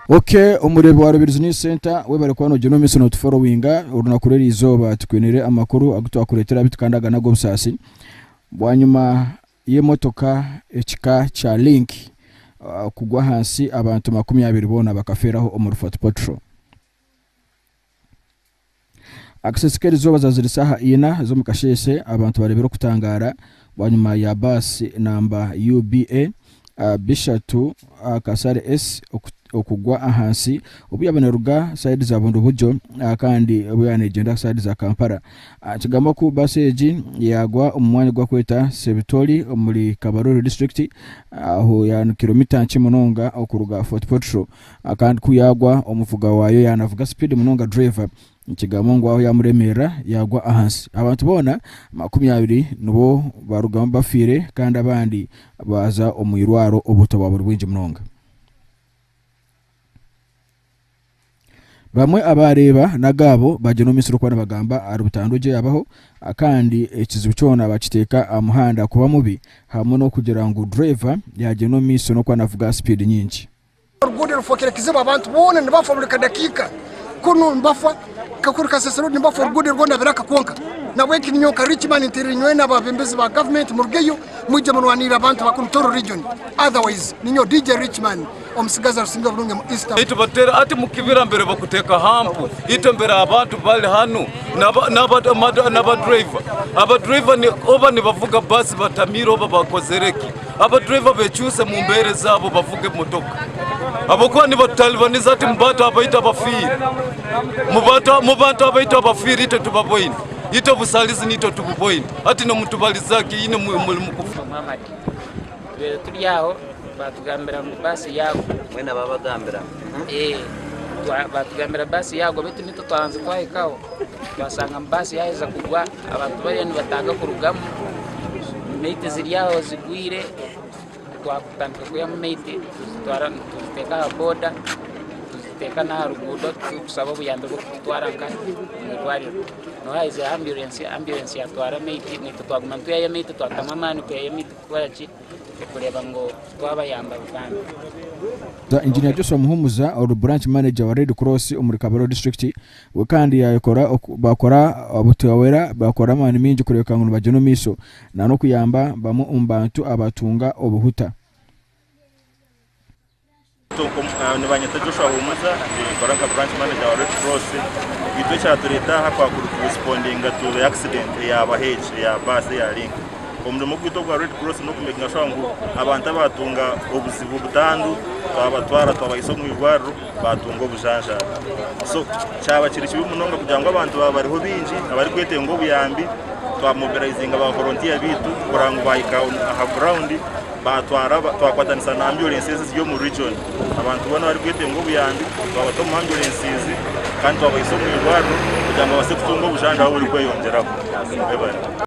Okay, omureebi wa Rubirizi News Center webare kuba nogira omumiso notuforowinga orunaku rw'eri izooba tukwinire amakuru agu twakureetera abitu kandi aga n'ag'obusaasi bwanyima y'emotoka ekika kya Link ah, kugwa ahansi abantu makumi abiri boona bakafeeraho omuri Fort Portal. Akasesi k'erizooba zaazire shaaha ina z'omu kasheeshe abantu bareebire okutangaara bwanyima ya baasi namba UBA bishatu Kasare S okugwa ahansi obu yaabaire neruga saidi za Bundibugyo kandi obu yaabaire neegyenda saidi za Kampala. Kigambwa ku baasi egi yaagwa omu mwanya ogubarikweta Sebitori omuri Kabarole disiturikiti ahu yaaba ni kiromita nkye munonga okuruga Fort Portal. Kandi ku yaagwa omuvuga waayo yaanavuga sipiidi munonga dureeva, nikigambwa ngu aho yaamuremerera yaagwa ahansi. Abantu boona makumi abiri nibo baarugamu bafiire kandi abandi baaza omu irwaro obuto bwaba buri bwingi munonga. Bamwe abaareeba n'agaabo baagira omumisiri okuba nibagamba ahari butandwa egyo yaabaho kandi ekizibu kyona baakiteeka aha muhanda kuba mubi hamwe n'okugira ngu dureeva yaagyenda omu maisho n'okuba naavuga sipiidi nyingi. Oruguudo rufokire kizibu abantu boona nibafa buri kadakika kunu nibafa kakuru kasasiro oru nibafa oruguudo rwona biraka kwonka nabweki ninyowe nka Richman nterire nyowe nababembezi ba government murugeyo mwije murwanirire abantu ba kunu Toro region otherwise ninyowe DJ Richman omusigazi arusinge oburungi omu East Africa. Itwe batera hati mukibira mbere bakuteka hampu itwe mbere abantu bari hanu naba driver aba driver oba nibavuga bus batamiire oba bakozereki Abadriver bekyuse mu mbeera ezaabo bavuga emotoka ahabw'okuba nibatutaalibaniza ati mubantu abaitu abafiire mubantu abaitu abafiire itwe tubaboine itwe obusaalizi naitwe tububoine ati nomutubaliza ki ine muli mukufa tubeire turi aho batugambira ngu baasi yaagwa mwena babagambira eh, batugambira baasi yaagwa baitu nitwe twabanza twahikaho twasanga baasi yaheza kugwa Abantu bariyo nibataaga kurugamu, mate ziri aho zigwire, twatandika kwihamu mate tuzitwara nituziteeka aha boda, nituziteeka n'aha ruguudo turikusaba obuyambi bw'okututwara nka omu irwariro. Niho haizireho amburensi, amburensi yatwara mate, naitwe twaguma nitwihayo mate, twatamu amaani kwihayo mate kukora ki, okureeba ngu twabayamba bambi. Engineer Joshua Muhumuza, ori branch manager wa Red Cross omuri Kabale District, We kandi yaayekora baakora obutumwa bwera baakora amaani maingi kureebeka ngu nibagyenda omu maisho na n'okuyamba bamwe omu bantu abatunga obuhuta. Nibanyeta Joshua Humuza, ninkora nka branch manager wa Red Cross. Itwe ekyatureeta aha kwakuri kurespondinga to the accident eyaaba hegi eya baasi eya Link. Omurimo gwaitu ogwa Red Cross n'okumekinga shuwa ngu abantu abaatunga obuzibu butandu twabatwara twabahaisa omu irwariro. baatunga obujanjabi. So kyaba kiri kibi munonga kugira ngu abantu baaba bariho baingi abarikwetenga obuyambi, twamobilizinga ba volontiya baitu kureba ngu baahika aha gurawundi, baatwara twakwatanisa na ambyurensi ezi eziri omu riijoni. Abantu boona abarikwetenga obuyambi twabata omu ambyurensizi kandi twabaisa omu irwariro kugira ngu babaase kutunga obujanjabi oburikweyongyeraho. Mwebare.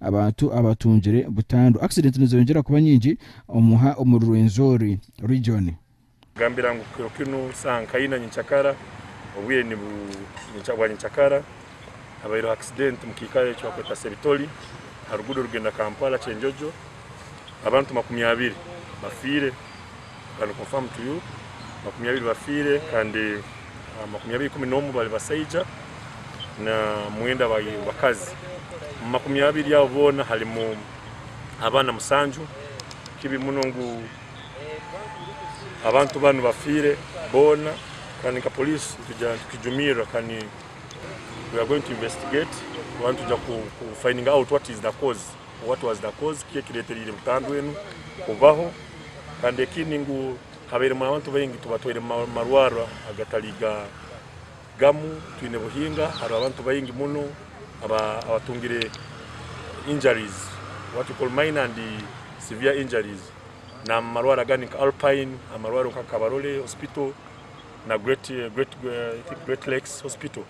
Abantu abatungire butandu. Accident nizeyongyera kuba nyingi omuha omuri Rwenzori region. Gambira ngu kiro kinu saha nkayi na nyikyakara obwire ni bwa nyikyakara habaireho accident mu kiikaro eki bakweta Sebitoli ha ruguudo orugenda Kampala Kyenjojo abantu makumi abiri bafiire. Can confirm to you makumi abiri bafiire kandi makumi abiri ikumi n'omwe bari basaija na mwenda bari bakazi. Omu makumi abiri abo boona harimu abaana musanju. Kibi muno ngu abantu banu bafiire boona kandi nka poliisi nitugira nti tukijumirira kandi we are going to investigate, tuba nitwija ku fininga out what is the cause. What was the cause, kiki ekiretereire butandwa enu kubaho kandi ekindi ngu habairemu abantu baingi tubatwaire mumarwarro agatari gamu twine buhinga hariho abantu baingi muno abatungire injuries what we call minor and severe injuries namumarwarro agandi nka Alpine amarwarro nka Kabarole hospital na great lakes hospital.